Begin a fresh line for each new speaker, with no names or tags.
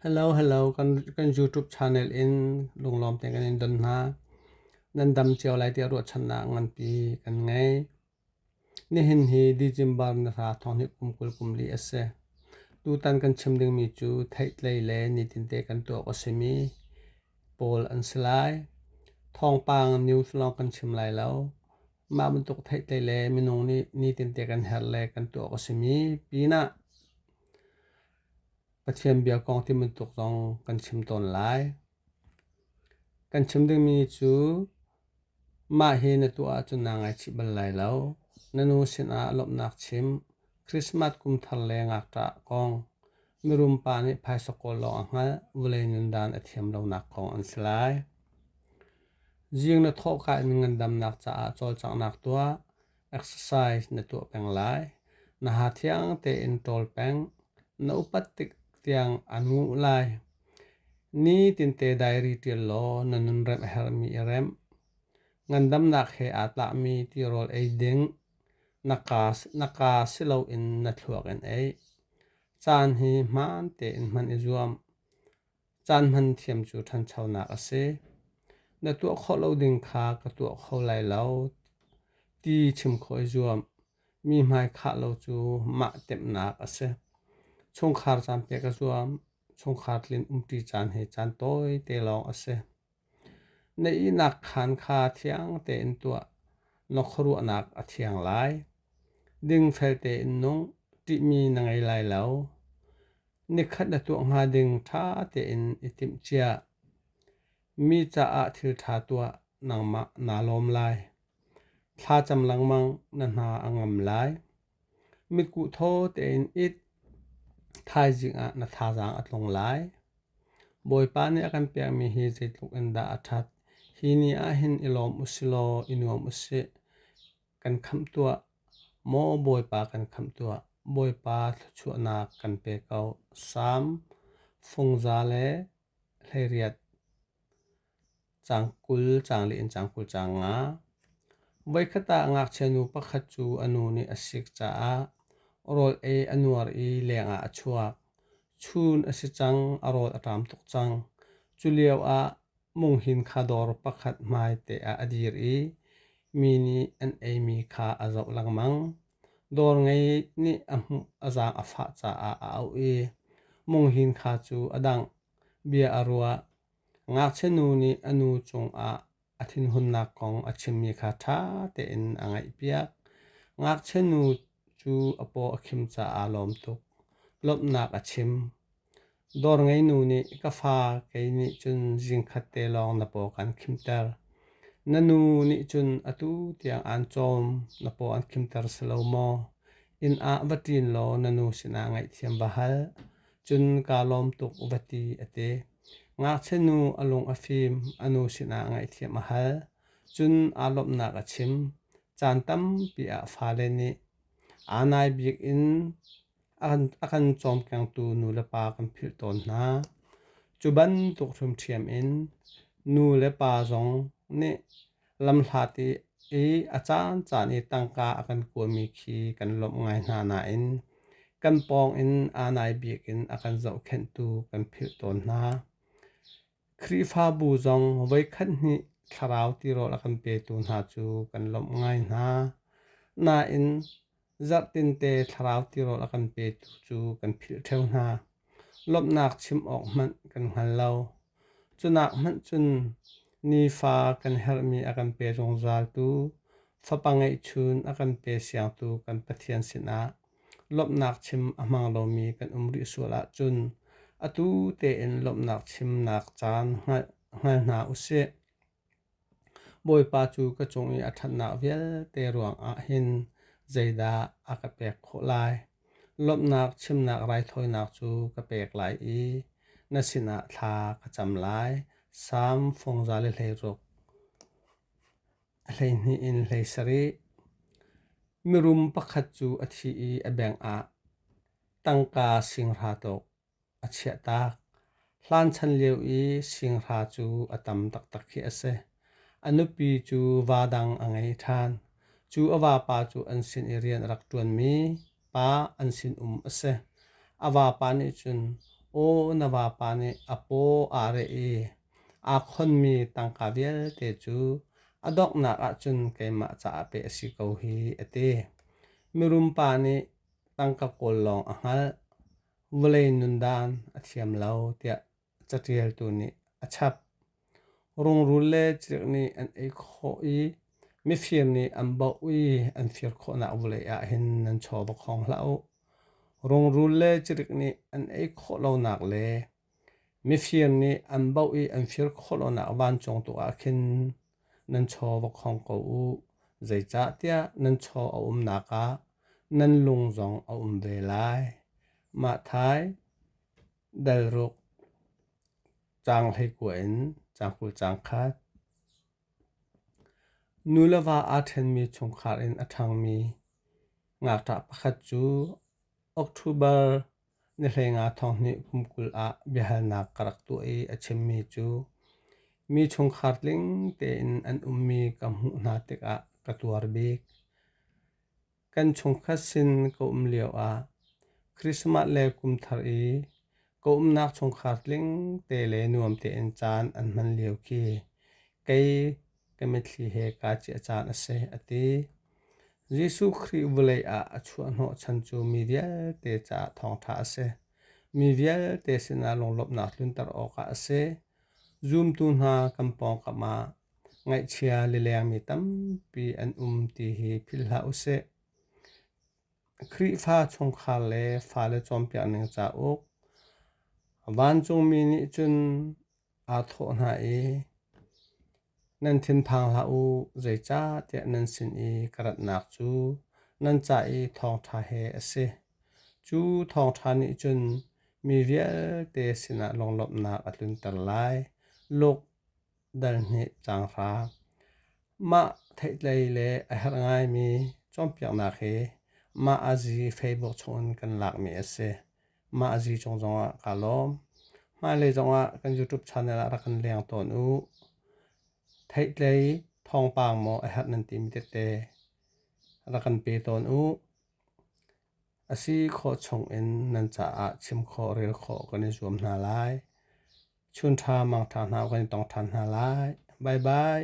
Hello hello kan YouTube channel in lunglawm te kan in don hna. Nan dam cio lai tiah ruahchannak nganpi kan ngei. Nihin hi December na hra thawng hi kum kul kum li a si. Tutan kan chim dingmi cu theihtlei le nitinte kan tuak a simi pawl an si lai. Thawngpang news lawng kan chim lai lo. Mah bantuk theihtlei le minung nih nitinte kan her le kan tuak a simi pinah Pathian bia kong ti bantuk zong kan chim tawn lai. Kan chim dingmi cu mah hi na tuah ahcun naa ngaichih bal lai lo. Na nu sinah lawmhnak chim, Christmas kum thar le ngakṭah kong, mirum pa nih phaisakawl lawng a hngalh, vulei nundan a thiam lonak kong an si lai. Zing na thawhkah in ngandamnak caah cawlcanghnak tuah. Exercise na tuah peng lai. Na ha thiang tein ṭawl peng. Na upat tik tiang a nguh lai. Nitin-te diary ṭial law na nunremh a herhmi i remh. Ngandamnak he aa tlakmi ti rawl ei ding. Na kaa si loin na thluak in ei. Caan hi hmaan tein hman i zuam. Caan hman thiam cu ṭhanchonak a si. Na tuah khawh lo ding kha ka tuah kho lai lo ti chim khawh i zuam. Mi hmaikhah lo cu mah temhnak a si. Chungkhar caan pek a zuam. Chungkhar tlin umṭi caan hi caan tawite lawng a si. Na ihnak khaan kha thiang tein tuah, na khuaruahnak a thiang lai. Dingfel tein nung, ṭihmi na ngei lai lo. Nikhat na tuah hnga ding ṭha tein i timhcia. Mi caah thil ṭha tuah, nangmah naa lawm lai. Thla cam lengmang, na hna a ngam lai. Mitkuh thaw tein it. Thaizing ah na thazaang a tlung lai. Bawipa nih a kan pekmi hi zeitluk in dah a ṭhat. Hi ni ahhin i lawm usilaw i nuam usih. Kan khamh tuah. Maw Bawipa kan khamh tuah. Bawipa thluachuahnak kan pe ko. Salm, fungza le hleiriat. Caang kul, caang le inn caang kul, caang nga. Voikhat ah ngakchianu pakhat cu a nu nih a sik caah rawl ei a nuar i lengah a chuak. Chun a si cang, a rawl a ṭam tuk cang. Culio ah munghin kha dawr pakhat hmaite ah a dir i mi nih an eimi kha a zoh lengmang. Dawr ngei nih a hmuh a zaang a fah caah a auh i munghin kha cu a dangh, bia a ruah. Ngakchianu nih a nu cungah a thinhunnak kong a chimmi kha ṭha tein a ngaihpiak. Ngakchianu cu a paw a khim caah lawm tuk. Lawmhnak a chim. Dawr ngeinu nih ka fa kei nih cun zingkhat te lawng na paw kan khimter. Na nu nih cun atu tiang aan cawm na paw an khimter si lo maw? Inn ah va ṭin law na nu sinah ngaihthiam va hal. cun kaa lawm tuk va ti a ti. Ngakchianu a lung a fim, a nu sinah ngaihthiam a hal. Cun aa lawmhnak a chim. Caan tampi ah fale nih aa nai bik in a kan cawmkengtu nu le pa kan philh tawn hna. Cu bantuk hrimṭhiam in nu le pa zong nih Lamhlat i a caancaan i tangka a kan kawlmi khi kan lawmh ngai hna nain kan pawngin aa nai bik in a kan zohkhenhtu kan philh tawn hna. Khrihfabu zong voikhat hnih thlarau tirawl a kan petu hna cu kan lawmh ngai hna. Nain Zarhtente thlarau tirawl a kan petu cu kan philh ṭheo hna. Lawmhnak chim awk hmanh kan hngal lo. Cunak hmanh cun nifa kan herhmi a kan pe zungzaltu, fapa ngeihchun a kan pe siangtu kan Pathian sinah lawmhnak chim a hmang lomi kan um rih sual ahcun atu tein lawmhnak chimnak caan hngal hna u sih. Bawipa cu ka cung i a ṭhatnak vialte ruangah hin zeidah a ka pek khawh lai? Lawmhnak chimnak raithawinak cu ka pek lai i na sinah thla ka cam lai. Salm fungza le hleiruk hleihnih in hlei sarih. Mirum pakhat cu a thi i a bengah tangka singhra tuk. a chiahtak. Hlan chan lio i singhra cu a tam taktak khi a si. A nupi cu va dang a ngei ṭhan. Cu a vapa cu an sin i rian a rak ṭuanmi pa an sinum a si. A vapa nih cun, “Aw, na vapa nih a paw aa reh i aa khonmi tangka vialte cu a donghnak ahcun keimah caah pek a si ko hi,” a ti. Mirum pa nih tangka kawl lawng a hngalh. vawlei nundan a thiam lo tiah catialtu nih a chap. Rungrul le cirh nih an ei khawh i mifir nih an baoh i an fir khawhnak vawlei ah hin nan chawva khawng hlah u. Rungrul le cirik nih an ei khawh lonak le mifir nih an baoh i an fir khawh lonak vancung tu ah khin nan chaw va khong ko u, zeicahtiah nan chaw a umnak ah nan lung zong a um ve lai. Mathai dalruk caang hleikua in caang kul caang khat. Nu le va aa ṭhenmi chungkhar in a ṭhangmi ngakṭah pakhat cu October Na hleinga thonghnih kumkul ah biahalnak ka rak tuah i a chimmi cu mi chungkhar tling tein an ummi ka hmuh hna tikah ka tuar bik. Kan chungkhat sin ka um lioah Christmas le kum thar i ka umnak chungkhar tling te le nuam tein caan an hman lio khi kei ka mitthli he kaa ciah caan a si a ti. Jesuh Khrih vawlei ah a chuahhnawh chan cu mi vialte caah thawngṭha a si. Mi vialte sinah lunglawmhnak tlunter awkah a si. Zumtu hna kan pawngkam ah ngaihchia lilengmi tampi an um ti hi philh hlah u sih. Khrihfa chungkhar le fale cawnpiakning cauk. Vancungmi nih cun aa thawh hna i, Nan thinphang hlah u, zeicahtiah nan sin i ka ratnak cu nan ca i thawngṭha he a si. Cu thawngṭha nih cun mi vialte sinah lunglawmhnak a tlunter lai. Luk dal hnih caang hra. Mah theihtlei le a herh ngaimi cawnpiaknak hi mah azi Facebook chungin kan lakmi a si. Mah a zi cung zongah kaa lawm. Hmailei zongah kan YouTube channel ah rak kan leng tawn u. Theihtlei thawngpang maw a herh nan timi tete rak kan pe tawn u. A si khawh chungin nan caah chim khawh, rel khawh kan i zuam hna lai. Chunṭha mangṭha hna kan i tong ṭhan hna lai. Bye bye.